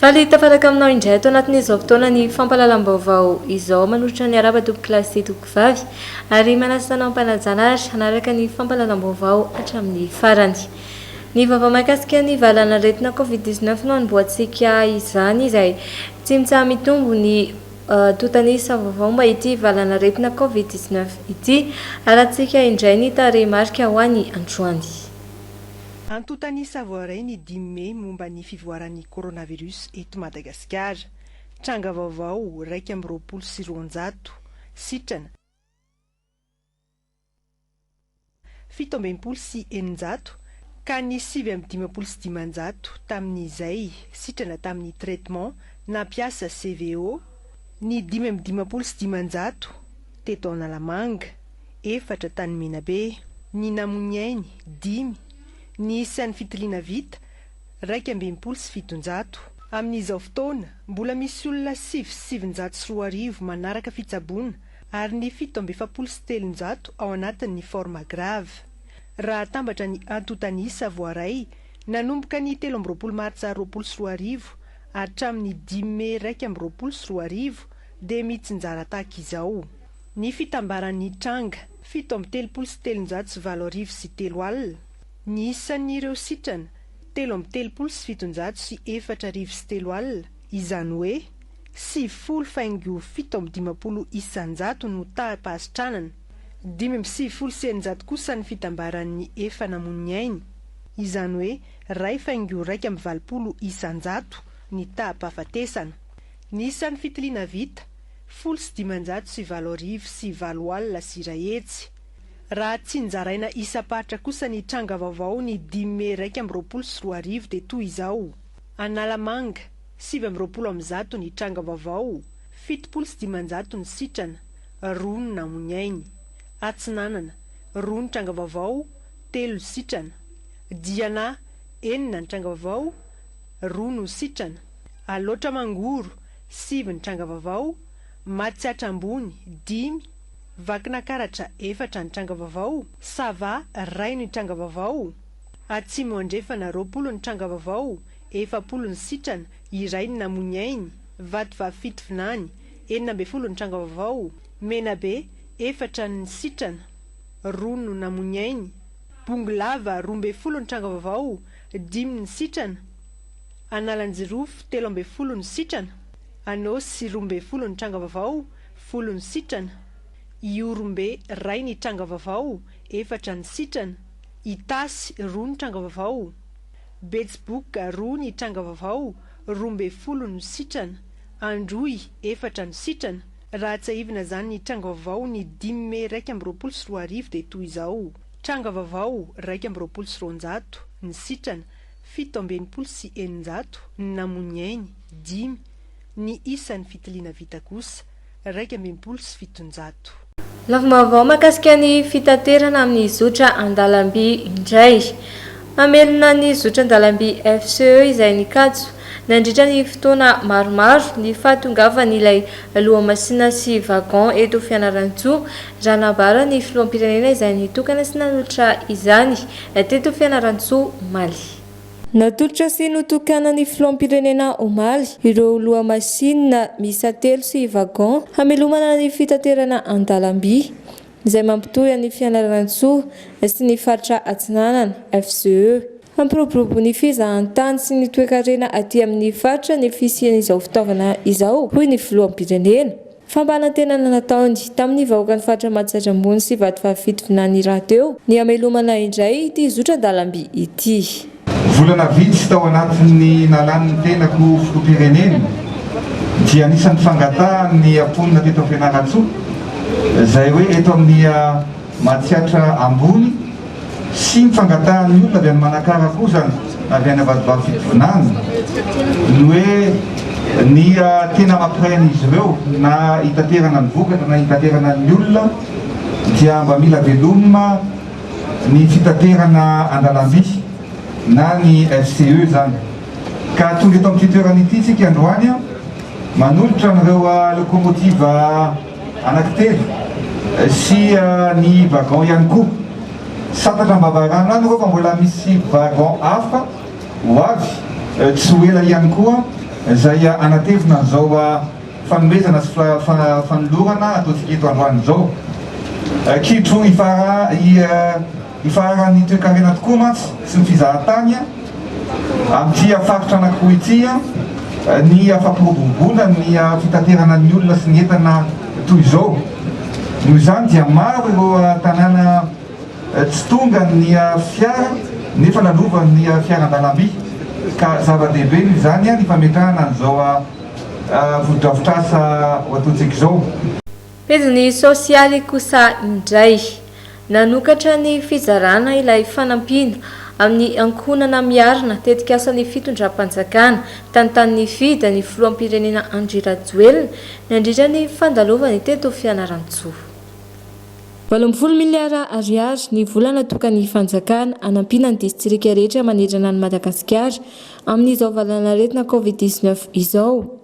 Faly tafaraka aminao indray ato anatin'izao fotoana ny fampahalalam-baovao izao manolotra ny araba tompoko lahy sy tompoko vavy ary manasa anao am-panajana ary hanaraka ny fampahalalam-baovao hatramin'ny farany. Ny vaovao mahakasika ny valan'aretina covid dix neuf no hanombohantsika izany izay tsy mitsaha-mitombo ny tontanisa vaovao momba ity valan'aretina covid dix neuf ity. Harahantsika indray ny tarehimarika ho an'ny androany. Antontan'ny Savoiray ny dimy mey momba ny fivoaran'ny coronavirus eto Madagasikara. Tranga vaovao iraika amby roapolo sy roanjato, sitrana, fito amby enimpolo sy eninjato ka ny sivy amby dimampolo sy dimanjato tamin'izay, sitrana, tamin'ny traitement nampiasa CVO, ny dimy amby dimampolo sy dimanjato teto Analamanga. efatra tany Menabe, ny namono'ny ainy, dimy, ny isan'ny fitiliana vita, iraika amby enimpolo sy fitonjato. Amin'izao fotoana, mbola misy olona sivy sy sivinjato sy roa arivo manaraka fitsaboana ary ny fito amby efapolo sy telonjato ao anatin'ny forme grave. Raha atambatra ny antontan'isa voaray nanomboka ny telo amby roapolo martsa roapolo sy roa arivo hatramin'ny dimy mey iraika amby roapolo sy roa arivo dia mitsinjara tahaka izao. Ny fitambaran'ny hitranga. Fito amby telopolo sy telonjato sy valo arivo sy telo alina. Ny isan'ireo sitrana. Telo amby telopolo sy fitonjato sy efatra arivo sy telo alina. Izany hoe, sivifolo faingo fito amby dimampolo isanjato no taham-pahasitranana. Dimy amby sivifolo sy eninjato kosa ny fitambaran'ny efa namono'ny ainy. Izany hoe, iray faingo iraika amby valopolo isanjato ny taham-pahafatesana. Ny isan'ny fitiliana vita. Folo sy dimanjato sy valo arivo sy valo alina sy iray hetsy. Raha tsinjaraina isam-paritra kosa ny tranga vaovao ny dimy mey iraika amby roapolo sy roa arivo dia toy izao, Analamanga, sivy amby roapolo amin'ny zato ny tranga vaovao, fitopolo sy dimanjato ny sitrana, roa ny namoiainy. Atsinanana, roa ny tranga vaovao, telo ny sitrana. Diana, enina ny tranga vaovao, roa no sitrana. Alaotra Mangoro, sivy ny tranga vaovao, matsiatra ambony, dimy, vakina karatra, efatra ny tranga vaovao, sava, ray ny tranga vaovao, atsimo andrefana, roapolo ny tranga vaovao, efapolo ny sitrana, iray ny namonia ainy, vatovavy fito vinany, enina ambin'ny folo ny tranga vaovao, menabe, efatra ny sitrana, roa no namonia ainy, bongolava, roa ambin'ny folo ny tranga vaovao, dimy ny sitrana, Analanjirofo, telo ambin'ny folo ny sitrana. Anôsy, roa ambin'ny folo ny tranga vaovao, folo ny sitrana. Ihorombe, iray ny tranga vaovao, efatra ny sitrana. Itasy, roa ny tranga vaovao. Betsiboka, roa ny tranga vaovao, roa ambin'ny folo ny sitrana. Androy, efatra ny sitrana. Raha tsiahivina izany ny tranga vaovao ny dimy mey iraika amby roapolo sy roa arivo dia toy izao, Tranga vaovao, iraika amby roapolo sy roanjato ny sitrana. Fito amby enimpolo sy eninjato ny namoy ny ainy, dimy ny isan' ny fitiliana vita kosa, iraika amby enimpolo sy fitonjato. Lavim-baovao mahakasika ny fitaterana amin'ny zotra an-dalamby indray. Mamelona ny zotra an-dalamby FCE izay nikatso, nandritra ny fotoana maromaro, ny fahatongavan'ilay lohamasinina sy wagon eto Fianarantsoa, raha nambaran'ny filoham-pirenena izay nitokana sy nanolotra izany. Teto Fianarantsoa, omaly. Natolotra sy notokanan'ny Filoham-pirenena omaly ireo lohamasinina miisa telo sy wagon hamelomana ny fitaterana an-dalamby, izay mampitohy an'i Fianarantsoa sy ny faritra Atsinanana, FCE. Hampiroborobo ny fizahantany sy ny toekarena aty amin'ny faritra ny fisian'izao fitaovana izao, hoy ny Filoham-pirenena. Fampanantenana nataony tamin'ny vahoakan'ny faritra Mahajajy Ambony sy Vatovavy Fitovinany rahateo ny hamelomana indray ity zotra-dalamby ity. Volana vitsy tao anatin'ny nalany ny tenako filoham-pirenena dia anisan'ny fangatahany ny mponina teto Fianarantsoa izay hoe eto amin'ny Mahatsiatra ambony sy ny fangatahan'ny olona avy any Manakara koa izany, avy any Avadibavy Fitovinany, ny hoe ny tena mampirehan'izy ireo na hitaterana ny vokatra na hitaterana ny olona dia mba mila velomina ny fitaterana an-dalamby na ny FCE izany. Ka tonga eto amin'ity toerana ity isika androany manolotra an'ireo lokomotiva. Anankitelo sy ny wagon ihany koa. Santatra am-bavarano any ireo fa mbola misy wagon hafa ho avy tsy ho ela ihany koa izay hanatevina an'izao fanomezana sy fanolorana ataontsika eto androany izao. Kitro ifara Ifararan'ny toekarena tokoa mantsy sy ny fizahan-tany amin'ity faritra anankiroa ity ny fampiroboroboana ny fitaterana ny olona sy ny entana toy izao. Noho izany dia maro ireo tanàna tsy tonga ny fiara nefa lalovan'ny fiara an-dalamby ka zava-dehibe noho izany ny fametrahana an'izao fotodrafitrasa ho ataontsika izao. Pejy ny sosialy kosa indray. Nanokatra ny fizarana ilay fanampiana amin'ny ankohonana miarina tetikasan'ny fitondram-panjakana tany Tanifida ny filoham-pirenena Andry Rajoelina nandritra ny fandalovany teto Fianarantsoa. Valo ambin'ny folo miliara ariary ny vola natokan'ny fanjakana hanampiana ny distrika rehetra manerana an'i Madagasikara amin'izao valanaretina Covid dix-neuf izao.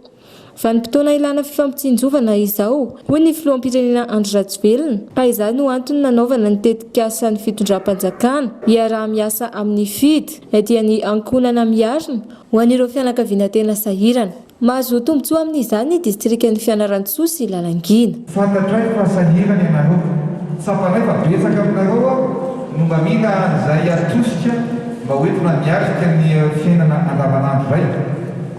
Vanim-potoana ilana fifampitsinjovana izao, hoy ny filoham-pirenena Andry Rajoelina, ka izany no antony nanaovana ny tetikasan'ny fitondram-panjakana hiaraha-miasa amin'ny Fid, na dia ny ankohonana miarina, ho an'ireo fianakaviana tena sahirana. Mahazo tombontsoa amin'izany ny distrikan'i Fianarantsoa sy Lalangina. Fantatray fa sahirana ianareo. Tsapanay fa betsaka aminareo ao no mba mila an'izay atosika mba hoentina miatrika ny fiainana andavanandro iray.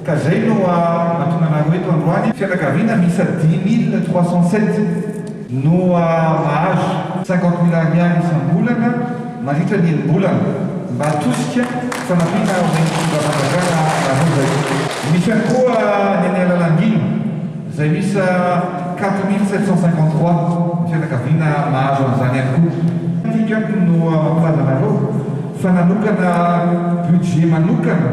Ka zay no mahatonga anareo eto androany. Fianakaviana miisa dix mille trois cent sept no mahazo cinquante mille ariary isam-bolana mandritra ny enim-bolana mba atosika fanampiana ho an'ny fitondram-panjakana nareo zay. Misy ihany koa ny any Analangiana zay miisa quatre mille sept cent cinquante trois ny fianakaviana mahazo an'izany ihany koa. Tiako ihany no mampilaza anareo fa nanokana budget manokana.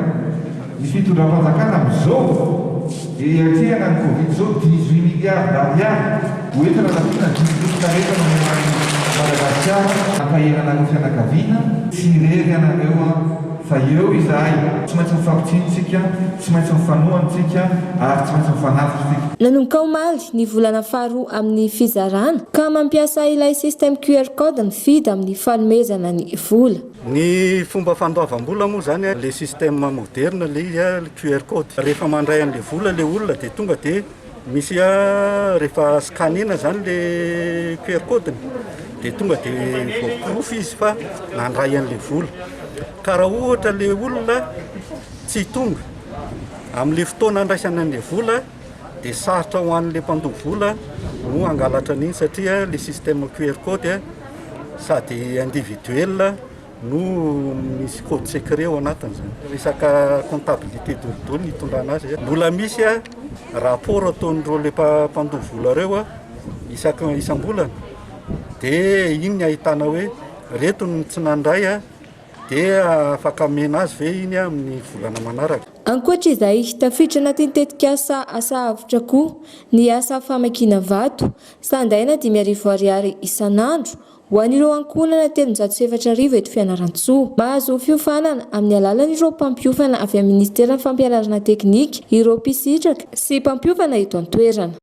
Ny fitondram-panjakana amin'izao dia hiatrehana ny covid izao dix-huit milliards d'ariary ho entina rahoviana didim-pitotarefa no omenan'i Madagasikara hampahena anareo fianakaviana, tsy irery ianareo an, fa eo izahay, tsy maintsy mifampitsino tsika, tsy maintsy mifanohana tsika ary tsy maintsy mifanafika tsika. Nanomboka omaly, ny volana faharoa amin'ny fizarana, ka mampiasa ilay système QR code mifidy amin'ny fanomezana ny vola. Ny fomba fandoavam-bola moa izany, ilay système moderne, ilay QR code. Rehefa mandray an'ilay vola ilay olona dia tonga dia misy rehefa scanner-na izany ilay QR code-ny dia tonga dia voaporofo izy fa nandray an'ilay vola. Ka raha ohatra ilay olona tsy tonga amin'ilay fotoana andraisana an'ilay vola, dia sarotra ho an'ilay mpandoa vola no hangalatra an'iny satria ilay système QR code sady individuel no misy code secret ao anatin'izany. Resaka comptabilité dolidoly ny itondrana azy. Mbola misy rapport ataon'ireo le mpandoa vola ireo isaka isam-bolana dia iny ny ahitana hoe reto ny tsy nandray dia afaka amena azy ve iny amin'ny volana manaraka. Ankoatra izay, tafiditra anatin'ny tetikasa Asa Avotra koa ny asa famakiana vato, sandaina dimy arivo ariary isan'andro, ho an'ireo ankohonana telonjato sy efatra arivo eto Fianarantsoa. Mahazo fiofanana amin'ny alalan'ireo mpampiofana avy amin'ny Minisiteran'ny Fampianarana Teknika ireo mpisitraka sy mpampiofana eto an-toerana.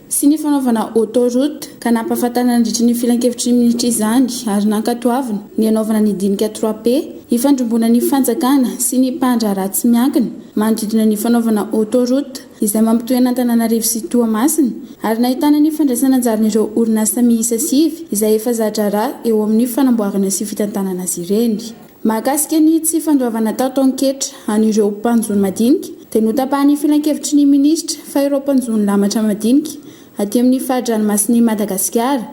sy ny fanaovana autoroute ka nampahafantarina nandritry ny filankevitry ny minisitra izany ary nankatoavina ny hanaovana ny dinika trois P hifandrimbona ny fanjakana sy ny mpandraharaha tsy miankina manodidina ny fanaovana autoroute izay mampitohina Antananarivo sy Toamasina ary nahitana ny fandraisana anjaran'ireo orinasa miisa sivy izay efa za-draharaha eo amin'ny fanamboarana sy fitantanana azy ireny. Mahakasika ny tsy fandoavana tao Taonketra an'ireo mpanjono madinika dia notapahan'ny filankevitry ny minisitra fa ireo mpanjono lamatra madinika aty amin'ny fari-dranomasin'i Madagasikara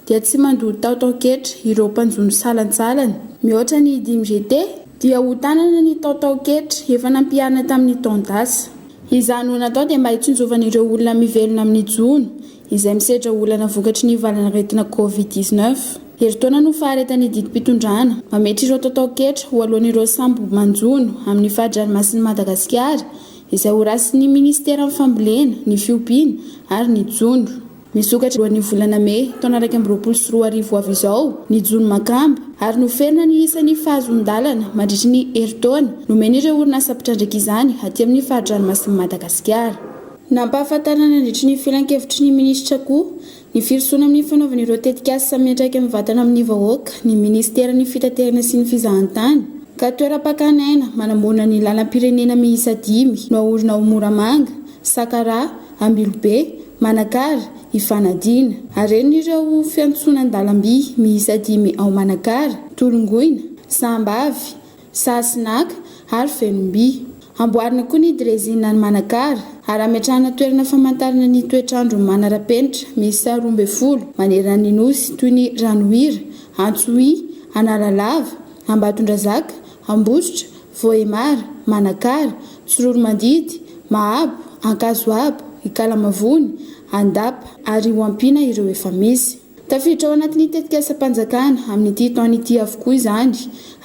dia tsy mandoa tao Taonketra ireo mpanjono salantsalany mihoatra ny dimy GT dia ho tanana ny tao Taonketra efa nampiharina tamin'ny taon-dasa. Izany ho natao dia mba hitsinjovana ireo olona mivelona amin'ny jono izay misedra olana vokatry ny valanaretina Covid dix neuf. Herintaona no faharetan'ny didim-pitondrana mametra ireo tataon-ketra ho aloan'ireo sambo manjono amin'ny fari-dranomasin'i Madagasikara izay horasin'ny Ministeran'ny Fambolena, ny Fiompiana ary ny Jono. Misokatra alohan'ny volana mey taona iraika amby roapolo sy roa arivo ho avy izao ny jono makamba ary noferina ny isan'ny fahazoan-dalana mandritry ny herintaona nomen'ireo orinasa mpitrandraka izany aty amin'ny fari-dranomasin'i Madagasikara. Nampahafantarina nandritry ny filankevitry ny minisitra koa ny firosoana amin'ny fanaovana ireo tetikasa samy miantraika mivantana amin'ny vahoaka ny minisiteran'ny fitaterana sy ny fizahantany, ka toeram-pakana aina manamorona ny lalam-pirenena miisa dimy no haorina ao Moramanga, Sakaraha, Ambilobe, Manakara, hifanadina. Harenina ireo fiantsonan-dalamby miisa dimy ao Manakara, Tolongoina, Sambavy, Saha sy naka, ary fenom-by. Amboarina koa ny drezinina any Manakara, ary ametrahana toerana famantarana ny toetr'andro manara-penitra miisa roa ambin'ny folo maneran'ny Nosy toy ny Ranohira, Antsohihy, Analalava, Ambatondrazaka, Ambositra, Vohemar, Manakara, Tsiroromandidy, Mahabo, Ankazoabo, Ikalamavony, Andapa, ary ho ampiana ireo efa misy. Tafiditra ao anatin'ny tetikasam-panjakana amin'ity taona ity avokoa izany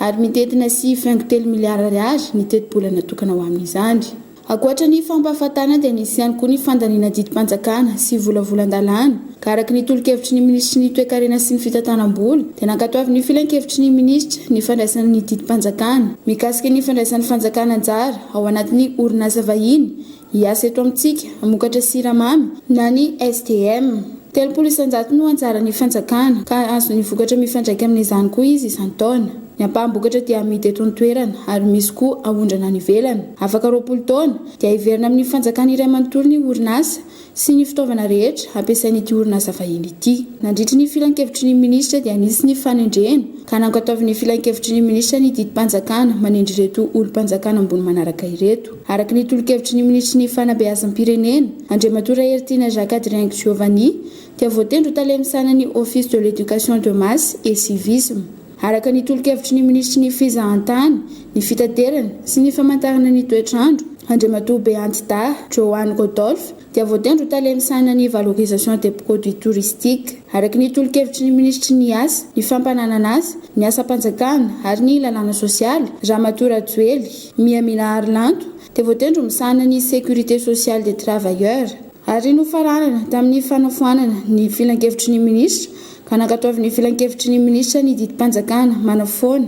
ary mitety na sivy faingo telo miliara ariary ny tetibola natokana ho amin'izany. Ankoatra ny fampahafatana dia nisy ihany koa ny fandaniana didim-panjakana sy volavolan-dalàna ka araka ny tolo-kevitry ny minisitry ny Toekarena sy ny Fitantanam-bola dia nankatoavy ny filankevitry ny minisitra ny fandraisana ny didim-panjakana mikasika ny fandraisan'ny fanjakana anjara ao anatin'ny orinasa vahiny Hiasa eto amintsika, hamokatra siramamy, na ny STM. Telopolo isan-jato no anjaran'ny fanjakana, ka hahazo ny vokatra mifandraika amin'izany koa izy isan-taona. Ny ampaham-bokatra dia amidy eto an-toerana, ary misy koa aondrana any ivelany. Afaka roapolo taona, dia hiverina amin'ny fanjakana iray manontolo ny orinasa sy ny fitaovana rehetra hampiasain'ity orinasa vahiny ity. Nandritry ny filankevitry ny minisitra dia nisy ny fanendrena, ka nankatoavin'ny filankevitry ny minisitra ny didim-panjakana manendry ireto olom-panjakana ambony manaraka ireto. Araka ny tolo-kevitry ny minisitry ny Fanabeazam-pirenena, Andriamatoa Raheritiana Jacques Adrien Giovanni, dia voatendry ho tale misahana ny Office de l'Education de Masse et Civisme. Araka ny tolo-kevitry ny minisitry ny Fizahantany, ny Fitaterana sy ny Famantarana ny Toetrandro, Andriamatoa Beanty Daha Johan Rodolphe, dia voatendry ho tale misahana ny valorisation des produits touristiques. Araka ny tolo-kevitry ny minisitry ny Asa, ny fampananan'asa, ny asam-panjakana ary ny lalàna sosialy, Ramatoa Rajoely Mihamila Harilanto, dia voatendry ho misahana ny sécurité sociale des travailleurs. Ary nofaranana tamin'ny fanafoanana ny filankevitry ny minisitra ka nankatoavin'ny filankevitry ny minisitra ny didim-panjakana manafoana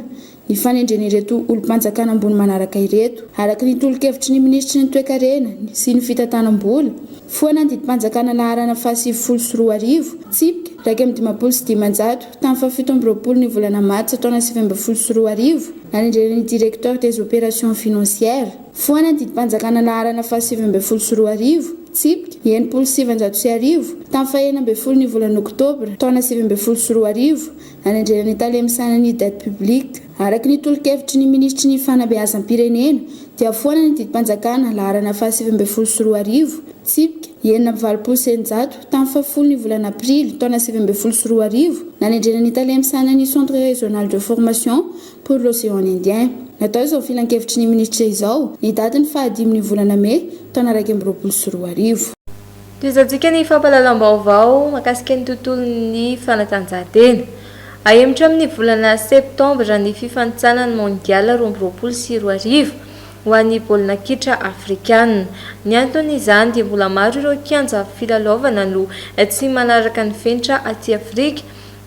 ny fanendren'ireto olom-panjakana ambony manaraka ireto, araka ny tolo-kevitry ny minisitry ny Toekarena sy ny fitantanam-bola, foana ny didim-panjakana laharana fahasivifolo sy roa arivo, tsipika iraika amby dimampolo sy dimanjato, tamin'ny fahafito amby roapolo ny volana martsa taona sivy ambin'ny folo sy roa arivo, nanendrena ny Directeur des Opérations Financières, foana ny didim-panjakana laharana fahasivy ambin'ny folo sy roa arivo, tsipika enimpolo sy sivinjato sy arivo, tamin'ny fahenina ambin'ny folo ny volana oktobra taona sivy ambin'ny folo sy roa arivo, any an-dreran'ny Tale misahana ny Dette Publique. Araka ny tolo-kevitry ny Minisitry ny Fanabeazam-pirenena dia foana ny didim-panjakana laharana fahasivy ambin'ny folo sy roa arivo, tsipika enina amby valopolo sy eninjato, tamin'ny fahafolo ny volana aprily taona sivy ambin'ny folo sy roa arivo nanendrena ny Tale misahana ny Centre Régional de Formation pour l'Océan Indien. Natao izao filankevitry ny Minisitra izao ny datin'ny fahadimy ny volana mey taona iraika amby roapolo sy roa arivo. Tohizantsika ny fampahalalam-baovao mahakasika ny tontolon'ny fanatanjahantena. Hahemotra amin'ny volana septambra ny fifanintsanana ny Mondial roa amby roapolo sy roa arivo ho an'ny baolina kitra afrikana. Ny anton'izany dia mbola maro ireo kianja filalaovana no tsy manaraka ny fenitra aty Afrika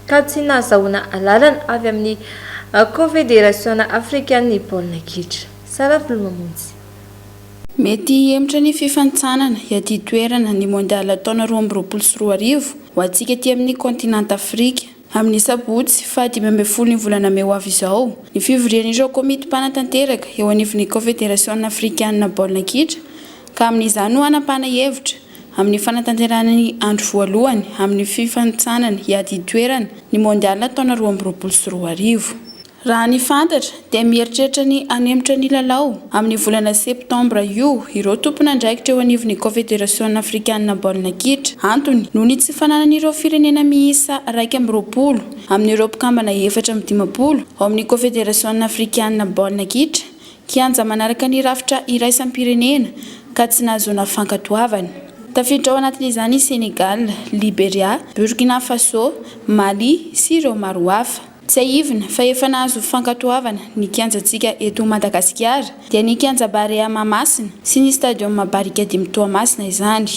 ka tsy nahazahoana alalana avy amin'ny Kaonfederasiona afrikan'ny baolina kitra. Sara Filomamonjy. Mety hihemotra ny fifanintsanana hiadia toerana ny Mondial taona roa amby roapolo sy roa arivo ho antsika ety amin'ny kaontinanta Afrika. Amin'ny sabotsy faha dimy ambin'ny folon'ny volana mey ho avy izao, ny fivorian'ireo komity mpanatanteraka eo anivon'ny Kaofederasiona afrikanina baolina kitra ka amin'izany no hanapahana hevitra amin'ny fanatanterahana ny andro voalohany amin'ny fifanintsanana hiadia toerana ny Mondial taona roa amby roapolo sy roa arivo. Raha ny fantatra dia mieritreritra ny hanemitra ny lalao amin'ny volana septambra io ireo tompon'andraikitra eo anivon'ny Kaonfederasiona afrikanina baolina kitra. Antony noho ny tsy fananan'ireo firenena miisa iraika amby roapolo amin'ireo mpikambana efatra amby dimampolo ao amin'ny Kaonfederasiona afrikanina baolina kitra kianja manaraka ny rafitra iraisam-pirenena ka tsy nahazoana fankatoavana. Tafiditra ao anatin'izany i Senegal, Liberia, Burkina Faso, Mali sy ireo maro hafa. Tsiahivina fa efa nahazo fankatoavana ny kianjantsika eto Madagasikara dia ny kianja Barea Mahamasina sy ny stadium Barikadimy Toamasina izany.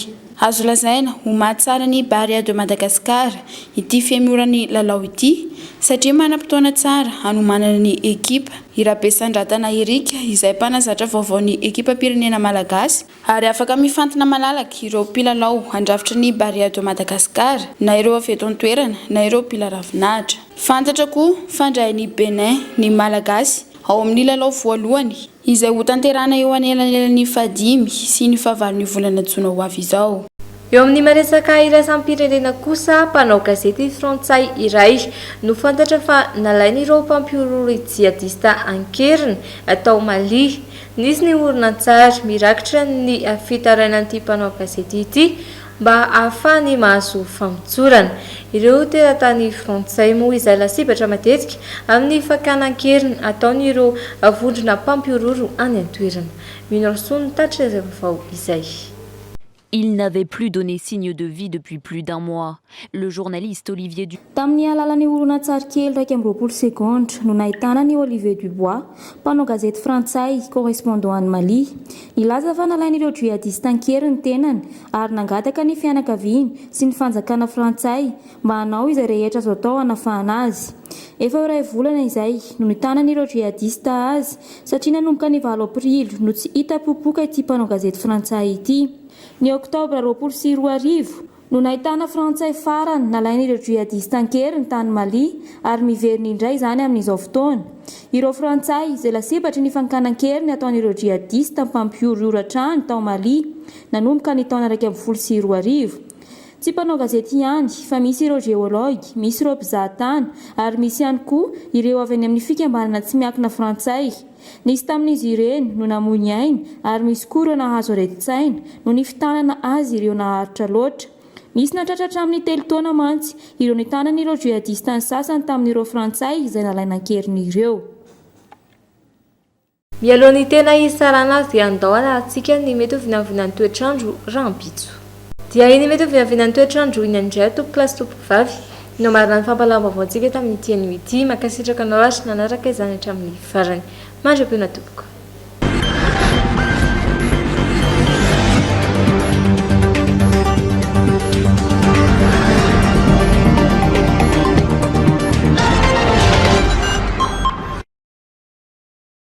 Azo lazaina ho mahatsara ny Barea de Madagascar ity fiemoran'ny lalao ity satria manam-potoana tsara hanomanana ny ekipa. I Rabesandratana Eric izay mpanazatra vaovaon'ny ekipam-pirenena malagasy Ary afaka mifantina malalaka ireo mpilalao handrafitra ny Barea de Madagascar, na ireo avy eto an-toerana, na ireo mpila ravinahitra. Fantatra koa fa handray an'i Bénin ny Malagasy ao amin'ny lalao voalohany, izay hotanterahana eo anelanelan'ny fahadimy sy ny fahavalon'io volana jona ho avy izao. Eo amin'ny maresaka iraisam-pirenena kosa, mpanao gazety frantsay iray no fantatra fa nalain'ireo mpampihorohoro jihadista an-keriny tao Mali. Nisy ny horonantsary mirakitra ny fitarainan'ity mpanao gazety ity mba hahafahany mahazo famotsorana. Ireo teratany frantsay moa izay lasibatra matetika amin'ny fakana an-keriny ataon'ireo vondrona mpampihorohoro any an-toerana. Mino Rasoa no tatitra izay vaovao izay. Il n'avait plus donné signe de vie depuis plus d'un mois. Le journaliste Olivier Du. Tamin'ny alalan'ny horonantsary kely iraika amby roapolo segondra no nahitana an'i Olivier Dubois, mpanao gazety frantsay, correspondant any Mali. Nilaza fa nalain'ireo djihadistes an-kery ny tenany ary nangataka ny fianakaviany sy ny fanjakana frantsay mba hanao izay rehetra azo atao hanafahana azy. Efa ho iray volana izay no nitanan'ireo djihadistes azy Satria nanomboka ny valo aprily no tsy hita popoka ity mpanao gazety frantsay ity. Ny oktobra roapolo sy roa arivo no nahitana frantsay farany nalain'ireo djihadistes an-keriny tany Mali ary miverina indray izany amin'izao fotoana. Ireo frantsay izay lasibatry ny fankanan-keriny ataon'ireo djihadistes mpampihorohoro hatrany tao Mali nanomboka ny taona iraika ambin'ny folo sy roa arivo Tsy mpanao gazety ihany fa misy ireo geologue, misy ireo mpizaha tany ary misy ihany koa ireo avy any amin'ny fikambanana tsy miankina frantsay. Nisy tamin'izy ireny no namoy ny ainy ary misy koa ireo nahazo aretin-tsaina noho ny fitanana azy ireo naharitra loatra. Nisy nahatratra hatramin'ny telo taona mantsy ireo nitanany ireo jihadistes ny sasany tamin'ireo frantsay izay nalaina an-keriny ireo. Mialoha ny tena hitsarana dia andao arahintsika ny mety ho vinanvinan'ny toetr'andro rahampitso. Dia iny mety ho vinanvinan'ny toetr'andro iny ihany indray aho tompokolahy sy tompokovavy no hamarana ny fampahalalam-baovaontsika tamin'ity anio ity. Mankasitraka anao ary nanaraka izany hatramin'ny farany. Mandra-pihaona tompoko.